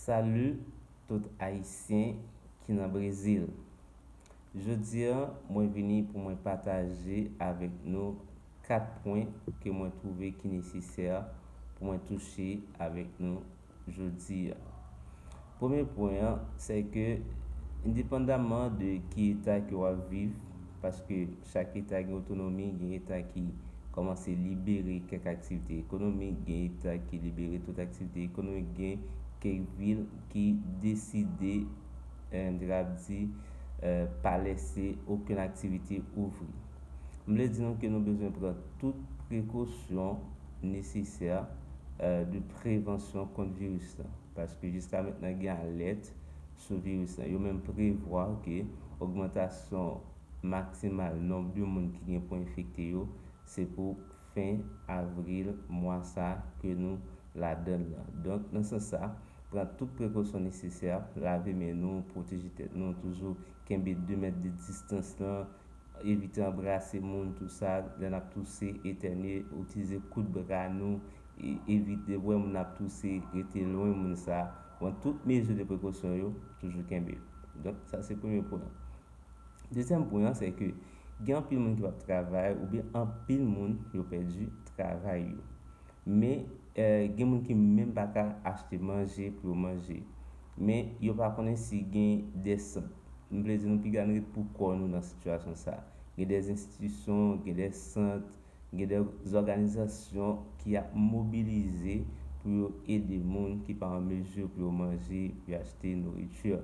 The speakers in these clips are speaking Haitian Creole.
Salut tout ayisyen ki nan brezil jodi an mwen vini pou mwen pataje avèk nou 4 pwen ke mwen twouve ki nesesè pou mwen touche avèk nou jodi an Premye pwen an, sè ke endepandamman de ki eta ke wap viv, paske chak eta gen otonomi, gen eta ki kòmanse libere kèk aktivite ekonomik, gen eta ki libere tout aktivite ekonomik, gen kèk vil ki deside, m te kapab di, pa lèse okenn aktivite ouvri. M vle di nou ke nou bezwen pran tout prekosyon nesesè de prevansyon kont viris lan. Paske jiska mentnan gen alèt sou viris lan. Yo menm prevwa ke ogmantasyon maksimal nonb de moun ki gen pou enfekte yo se pou fen avril mwa sa ke nou ladan l lan. Donk nan sans sa, pran tout prekosyon nesesè, lave men nou, pwoteje tèt nou, toujou kenbe 2 mèt de distans lan, Evite anbrase moun tou sa lè n ap touse, etènye, itilize kout bra nou, evite depi w wè moun ap touse rete lwen moun sa, pran tout mezi de prekosyon yo, toujou kenbe l. Donk sa se premye pwen an. Dezyèm pwen an se ke gen anpil moun ki p ap travay oubyen anpil moun yo pèdi travay yo. Men, gen moun ki menm pa ka achte manje pou yo manje. Men, yo pa konnen si gen de sant. M vle di nou piga n ret pou kò nou nan sitiyasyon sa a. Gen de enstitisyon, gen de sant, gen de zòganizasyon ki ap mobilize pou yo ede moun ki pa an mezi pou yo manje, pou yo achte nouriti.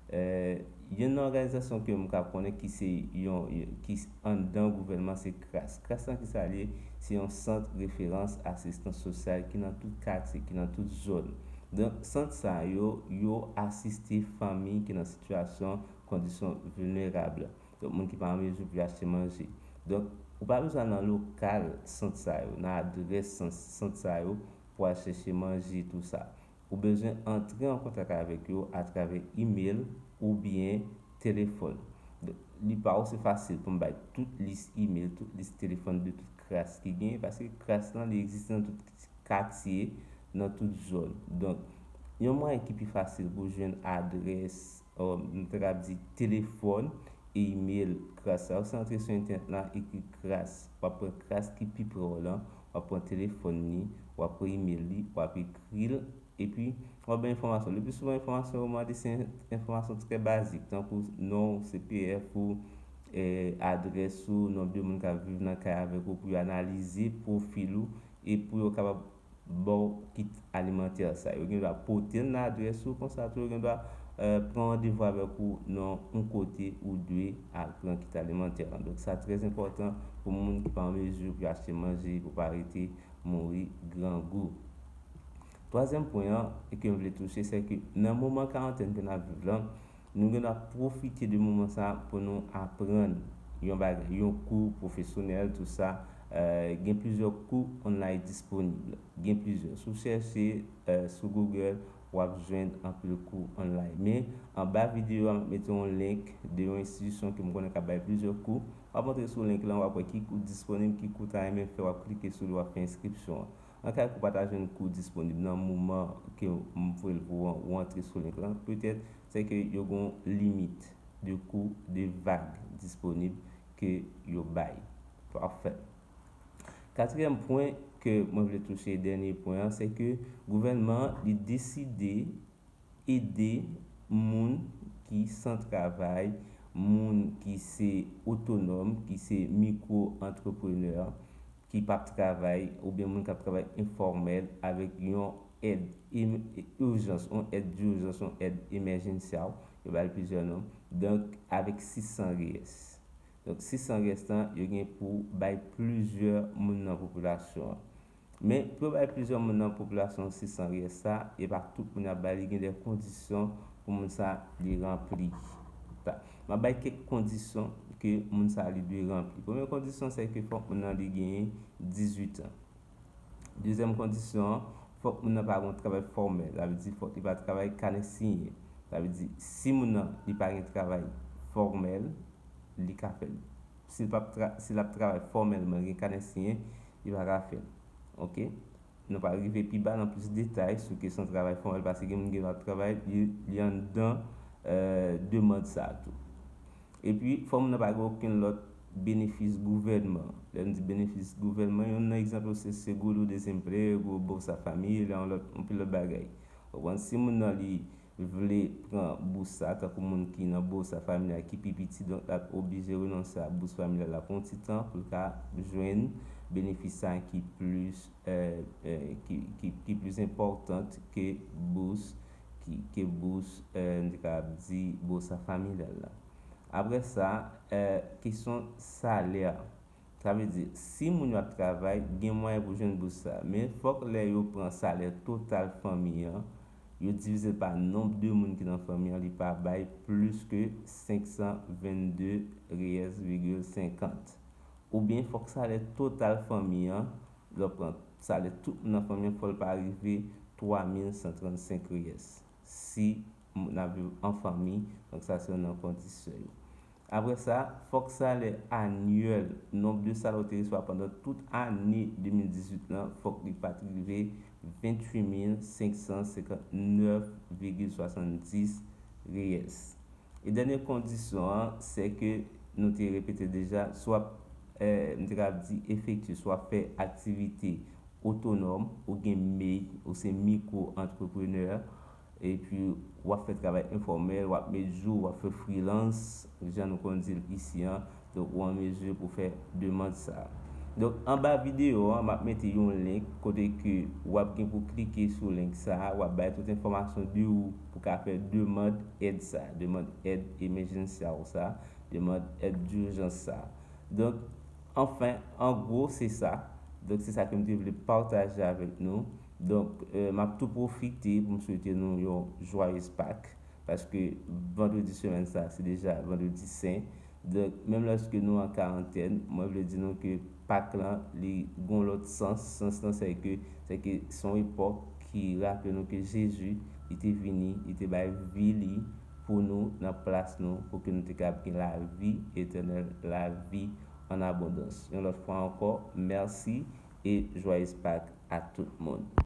Youn nan òganizasyon ke m ka konnen ki se yon, ki anndan gouvènman se kras. Kras lan ki sa l ye? Se yon sant referans asistans sosyal ki nan tout katye, ki nan tout zòn. Donk sant sa yo, yo asiste fanmi ki nan sitiyasyon, kondisyon vilnerab. Donk moun ki pa an mezi pou yo achte manje. Donk ou pa bezwen al nan lokal sant sa yo, nan adrès sant sa yo pou al chèche manje tou sa. ou bezwen antre an kontak avèk yo atravè imel oubyen telefòn. Donk, li pa ose fasil pou m bay tout lis imel, tout lis telefòn de tout kras ki genyen paske kras lan li egziste nan tout katye, nan tout zòn. Donk, yon mwayen ki pi fasil pou jwenn adrès Nou ta kab di telefòn e imel kras la. Ou se antre sou entènèt la, ekri kras. W ap pran kras ki pi pre w lan, w ap pran telefòn li, w ap pran imel li, w ap ekri l, epi w ap bay enfòmasyon. Lepli souvan enfòmasyon yo mande se enfòmasyon trè bazik tankou non ou, CPF ou, adrès ou, non de moun k ap viv nan kay avèk ou pou yo analize pwofil ou e pou yo kapab baw kit alimantè sa yo gen dwa potel nan adrès ou konsa tou yo gen dwa pran randevou avèk ou nan yon kote ou dwe al pran kit alimantè lan donk sa trè enpòtan pou moun ki pa an mezi pou yo achte manje pou pa rete mouri grangou twazyèm pwen an kem vle touche sèke nan moman karantèn ke nap viv lan Nou gen dwa pwofite de moman sa pou nou aprann yon bagay, yon kou pwofesyonèl tou sa, gen plizyè kou online disponib, gen plizyè, si w chèche sou Google w ap jwenn anpil kou online men anba videyo a m ap mete yon link de yon enstitisyon ke m konnen k ap bay plizyè kou, w ap antre sou link lan w ap wè ki kou disponib, ki kou w ta renmen fè w ap klike sou li w ap fè enskripsyon an. Nan ka ke w pa ta jwenn kou disponib nan moman ke m voye l pou ou an, ou antre sou link lan, petèt se ke yo gen yon limit de kou de vag disponib ke yo bay. Pafè. Katriyèm pwen ke mwen vle touche, dènye pwen an, se ke gouvènman an li deside ede moun ki san travay, moun ki se otonòm, ki se mikwo antreprenè, ki pap travay oubyen moun kap travay enfòmèl avèk yon èd urjans, yon èd durjans, yon èd emèjensyaw, yo bal plizyè non, donk avèk 600 res. Donk 600 res lan yo gen pou bay plizyè moun nan popilasyon an. Men pou yo bay plizyè moun nan popilasyon an 600 res sa, epa tout moun yap ba li, gen de kondisyon pou moun sa li ranpli. M ap bay kèk kondisyon ke moun sa li dwe ranpli. Premye kondisyon se ke fòk moun nan li genyen 18 an. Dezyèm kondisyon an, fòk moun nan pa gen yon travay fòmèl. Sa vle di fòk li pa travay kanè siyen. Sa vle di si moun nan li pa gen travay fòmèl, li ka fè l. Si l pa si l ap travay fòmèlman, gen kanè siyen, li pa ka fè l. Ok. Nou pa rive pi ba nan plis detay sou kesyon travay fòmèl pase gen moun ki ap travay li anndan demand sa a tou. Epi, fò moun nan pa gen okenn lòt benefis gouvènman. Lè nou di benefis gouvènman, youn nan egzanp yo se seguro-desemprego, bolsa familia, yon lòt, anpil lòt bagay. Ou konprann? Si moun nan li. vle pran bous sa a tankou moun ki nan Bolsa Familiar ki pi piti donk l ap oblije renonse a bous familyal la pou yon ti tan pou l ka jwenn benefis sa a ki plis ki plis enpòtan ke bous ke bous m te kapab di Bolsa Familial la. Apre sa kesyon salè Sa vle di, si moun yo ap travay, gen mwayen pou jwenn bous sa. Men, fòk lè yo pran salè total fanmi an, yo divize l pa nonb de moun ki nan fanmi an, li pa bay plis ke 522 riyèz vigil senkant. Oubyen, fòk salè total fanmi an, lè w pran salè tout moun nan fanmi an, fò l pa rive 3135 riyèz. Si moun ap viv an fanmi, donk sa se youn nan kondisyon yo. Apre sa, fòk salè anyèl nonb de salè ou te resevwa pandan tout ane 2018 lan fòk li pa t rive 28 mil 559,70 riyèls. E dènye kondisyon an, sè ke nou te repete deja, si w ap, m te kapab di, efektye, si w ap fè aktivite otonòm, ou gen mei, ou se mikwo antreprenè, Epi w ap fè travay enfòmèl, w ap met jou, w ap fè freelance, jan nou konn di l isi an. Donk ou an mezi pou fè demand sa a. Donk anba videyo an, m ap mete yon link kote ke w ap gen pou klike sou link sa a, w ap bay tout enfòmasyon de ou pou ka fè demand èd sa a, demand èd emejensyal ou sa a, demand èd dijans sa a. Donk, anfen, an gwo, se sa. Donk se sa ke m te vle pataje avèk nou. Donk map tou pwofite pou m swete nou yon jwayez Pak paske vandredi semèn sa se deja vandredi sen. Donk menm lèske nou an karantèn mwen vle di nou ke Pak lan li gon lòt sans, sans lan se ke se ke se yon epòk ki raple nou ke Jezi li te vini li te bay vi li pou nou nan plas nou pou ke nou te kab gen lavi etènèl, lavi an abondans yon lòt fwa ankò merci et joyeuse Pâques a tout moun.